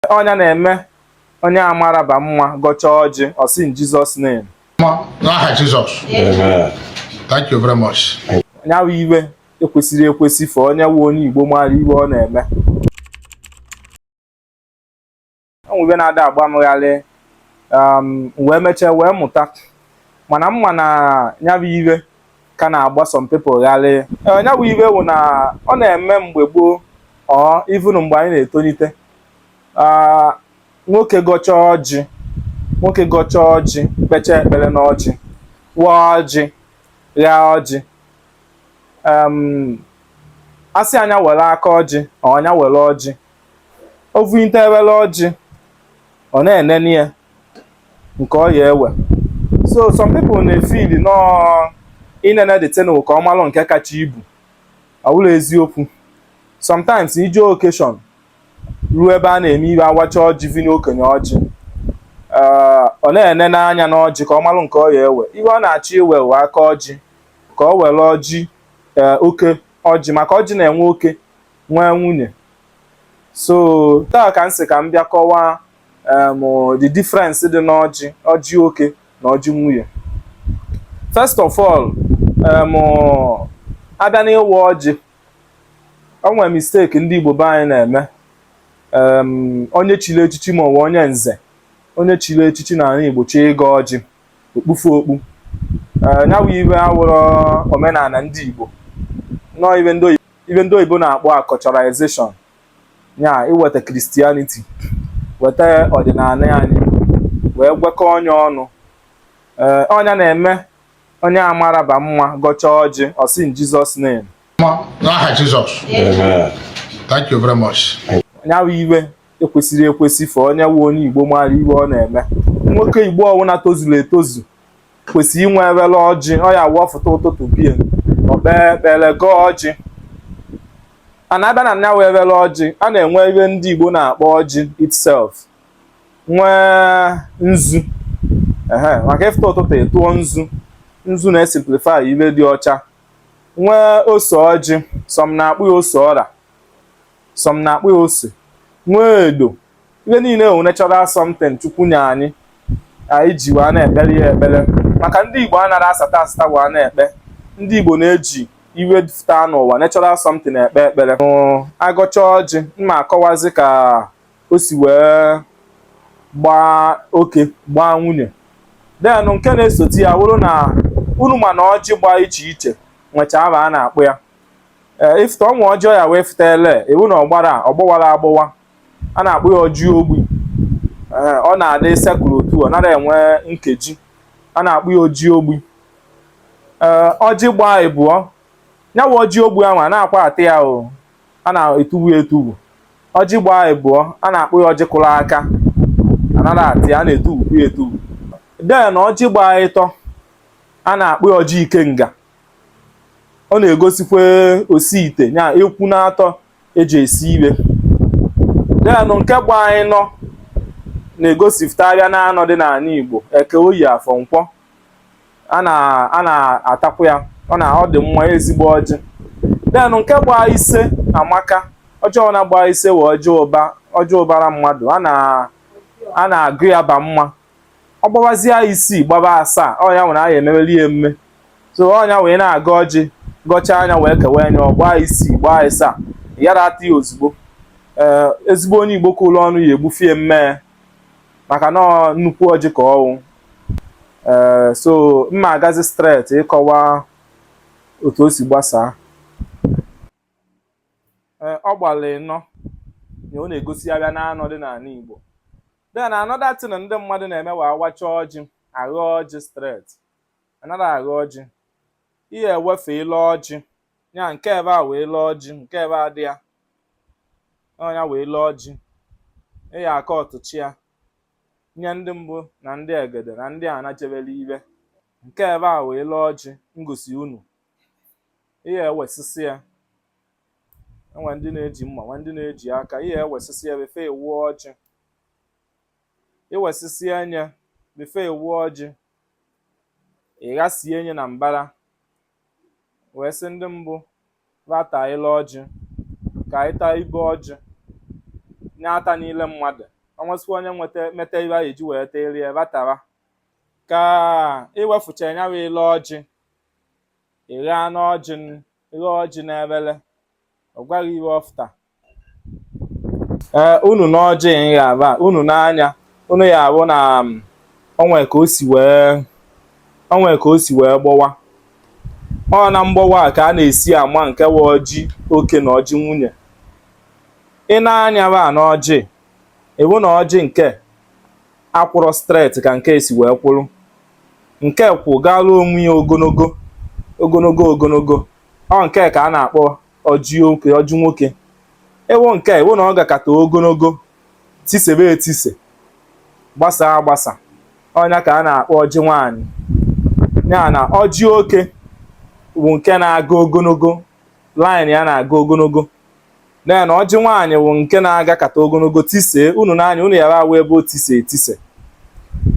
ọ nya na-eme onye amara ba mma gọchaa ọjị ọ sị in Jesus name n'aha Jizọs thank you very much nya wụ ihe ekwesịrọ ekwesị for onye wụ onye Igbo mara ihe ọ na-eme e nwe ihe na-ada agba m gharị, m wee mechaa wee mụta mana m ma na nya wụ ihe ka na-agba some people gharị nya wụ ihe wụ na ọ na-eme mgbe gboo or even mgbe anyị na-etolite nwoke gọcha ọjị nwoke gọcha ọjị kpecha ekpere n'ọjị waa ọjị gha ọjị a sị nya were aka ọjị or nya were ọjị o vuite efere ọjị ọ na-enene ya nke ọ ya ewe so some people na-efili na ọ inene the thing ka ọ malụ nke kacha ibu awụrọ eziokwu sometimes i je occasion ruo ebe a na-eme ihe a wacha ọjị vunye okenye ọjị ee, ọ na-enene anya n'ọjị ka ọ malụ nke ọ ya ewe ihe ọ na-achọ iwe wụ aka ọjị ka ọ were ọjị ee, oke ọjị maka ọjị na-enwe oke nwee nwunye so taa ka m sị ka m bịa kọwaa um the difference dị n'ọjị ọjị oke na ọjị nwunye first of all um a bịa n'ịwa ọjị o nwere mistake ndị Igbo be anyị na-eme um onye chiri echichi ma ọ wụ onye nze onye chiri echichi na ala Igbo chọ ịgọ ọjị o kpufe okpu uh, ya bụ ihe awụrọ omenala ndị Igbo na ọ ihe ndị oyibo na-akpọ acculturization ya iweta Christianity weta ọdịnala anyị wee gwakọọ nya ọnụ ee ọ nya na-eme onye amara ba mma gọcha ọjị ọ sị in Jesus name n'aha Jizọs thank you very much ya bụ ihe ekwesịrọ ekwesị for onye wụ onye Igbo mara ihe ọ na-eme nwoke Igbo ọwụna tozuru etozu kwesịrị inwe efere ọjị ọ ya-awụ ọ fụta ụtụtụ bie o kpee ekpere gọọ ọjị and a bịa na nya wụ efere ọjị a na-enwe ihe ndị Igbo na-akpọ ọjị itself nwee nzu ehe maka ị fụta ụtụtụ ị tụọ nzu nzu na-esimplify ihe dị ọcha nwee ose ọjị some na-akpọ ya ose ọra some na-akpọ ya ose nwee edo ihe niile a wụ natural something chukwu nye anyị anyị ji wee na-ekpere ya ekpere maka ndị igbo anaghị asata asata wee na-ekpe ndị igbo na-eji ihe fụta n'ụwa natural something ekpe ekpere a gọcha ọjị m ma akọwazi ka o si wee gbaa oke gbaa nwunye then nke na-esote ya wụrụ na unu ma na ọjị gbaa iche iche nwecha aha a na-akpọ ya ee ị futa o nwe ọjị ị ya-ewefuta ele ị hụ na ọ gbara ọ gbọwara agbọwa a na-akpọ ya ọjị ogbi ee ọ na-adị circular otu ọ nara enwe nkeji a na-akpọ ya ọjị ogbi ee ọjị gbaa ịbụọ nya wa ọjị ogbi ahụ anakwa ata ya o a na-etubu ya etubu ọjị gbaa ịbụọ a na-akpọ ya ọjị kụrụ aka anara ata ya a na-etubu ya etubu den ọjị gbaa ịtọ a na-akpọ ya ọjị ikenga ọ na-egosikwa osi ite ya ekwu n'atọ e ji esi ihe den nke gbaa ịnọ na-egosipụta ahịa n'anọ dị n'ala Igbo eke oye afọ nkwọ a na-atakwa ya ọ na ọ dị mma ezigbo ọjị den nke gbaa ise amaka ọjị na-agba ise wụ ọjị ụba ọjị ụbara mmadụ a na-agụ ya ba mma ọ gbawazie isii gbaba asaa onye a nwere nya ememeli ya emume so onye a wee na-agọ ọjị gọchaa nya wee kewa nya ọ gbaa isii gbaa asaa yara ata ya ozugbo ee ezigbo onye igbo ka ụlọ ọnụ ya egbufie mmee maka na nnukwu ọjị ka ọ wụ ee so mma agazi straight ịkọwa otu o si gbasaa ee ọ gbalụ ịnọ na ọ na-egosi ahịa n'anọ dị n'ala Igbo then another thing ndị mmadụ na-eme wa awacha ọjị agha ọjị straight anara agha ọjị i ye-ewefe ile ọjị ya nke ebe a wụ ile ọjị nke ebe a dị ya ọ nya wụ ile ọjị ịya aka ọtụchi ya nye ndị mbụ na ndị egede na ndị a na-echebere ihe nke ebe a wụ ile ọjị m gosi unu i ye-ewesịsị ya e nwe ndị na-eji mma nwe ndị na-eji aka i ye-ewesịsị ya before ị waa ọjị i wesịsịa nya before ị waa ọjị ị ghasịa nya na mbara wee sị ndị mbụ bịa taa ile ọjị ka anyị taa ibe ọjị nye ata niile mmadụ o nwesịkwa onye nweta meta ibe a eji wee terie ratara ka i wefucha ya bụ ile ọjị ịgha n'ọjị ịgha ọjị n'efele ọ gwa gị ihe ọ fụta ee unu n'ọjị ịgha aba unu n'anya unu ya abụ na um, o nwe ka o si wee o nwe ka o si wee gbọwa ọ na mgbọwa ka a na-esi ama nke wa ọjị oke na ọjị nwunye i nee anya ba n'ọjị ị wụ na ọjị nke a kwụrụ stret ka nke a si wee kwụrụ nke kwụ gara onwe ya ogologo ogologo ogologo ọ nke a ka a na-akpọ ọjị oke ọjị nwoke ị wụ nke ị wụ na ọ gakata ogologo tisebe etise gbasa agbasa ọ nya ka a na-akpọ ọjị nwaanyị ya na ọjị oke bụ nke na-aga ogologo line ya na-aga ogologo den ọjị nwaanyị wụ nke na-agakata ogologo tisee unu nee anya unu ya-awụ ebe o tise etise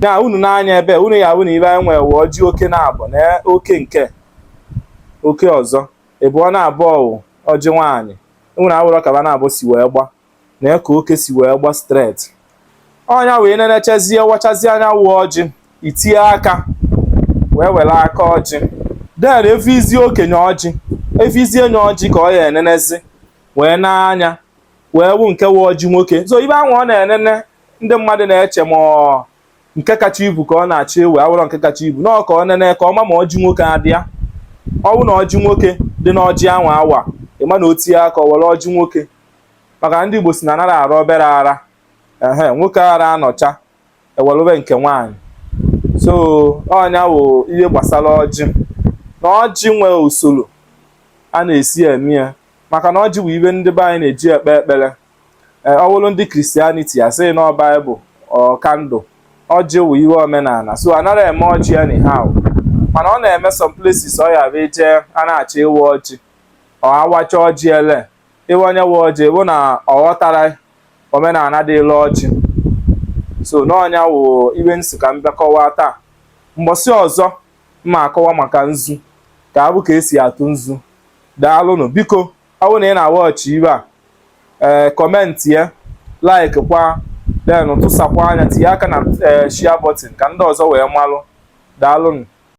na unu nee anya ebe a unu ya-awụ na ibe anyị nwere wụ ọjị oke naabọ na oke nke oke ọzọ ebe ọ naabọ wụ ọjị nwaanyị unu awụrọ ka ba naabọ si wee gba na ka oke si wee gba streti ọ nya wee nenechezie wachazie a nya wụ ọjị i tinye aka wee were aka ọjị den e vuzie okenye ọjị e vuzie nye ọjị ka ọ ya enenezi wee nee anya wee wụ nke wụ ọjị nwoke so ibe anwa ọ na-enene ndị mmadụ na-eche ma ọ nke kacha ibu ka ọ na-achọ iwe ọ wụrọ nke kacha ibu na ọ ka ọ nene ka ọ ma ma ọjị nwoke adị ya ọ wụ na ọjị nwoke dị n'ọjị anwa a wa ị ma na o tinye aka ọ were ọjị nwoke maka ndị Igbo sị na anara ara obere ara ehe nwoke ara anọcha ewelụbe nke nwaanyị so ọ nya wụ ihe gbasara ọjị na ọjị nwee usoro a na-esi eme ya maka na ọjị bụ ibe ndị be anyị na-eji ekpe ekpere e, ọ bụrụ ndị kristianiti a sị na ọ baịbụl or kandụl ọjị wụ ihe omenala so anara eme ọjị anyhow mana ọ na-eme some places ọ ya bụ e jee a na-achọ ịwa ọjị or a wacha ọjị ele ebe onye wa ọjị bụ na ọ ghọtara omenala dịịlụ ọjị so na ọ nya wụ ibe m sị ka m bịa kọwaa taa mbọsị ọzọ m ma-akọwa maka nzu ka ọ bụ ka e si atụ nzu daalụnụ biko ọ bụrụ na ị na-awọchị ibe a ee eh, kọmentị ya like kwa den tụsakwa anya tinye aka na eh, share button ka ndị ọzọ wee malụ daalụnụ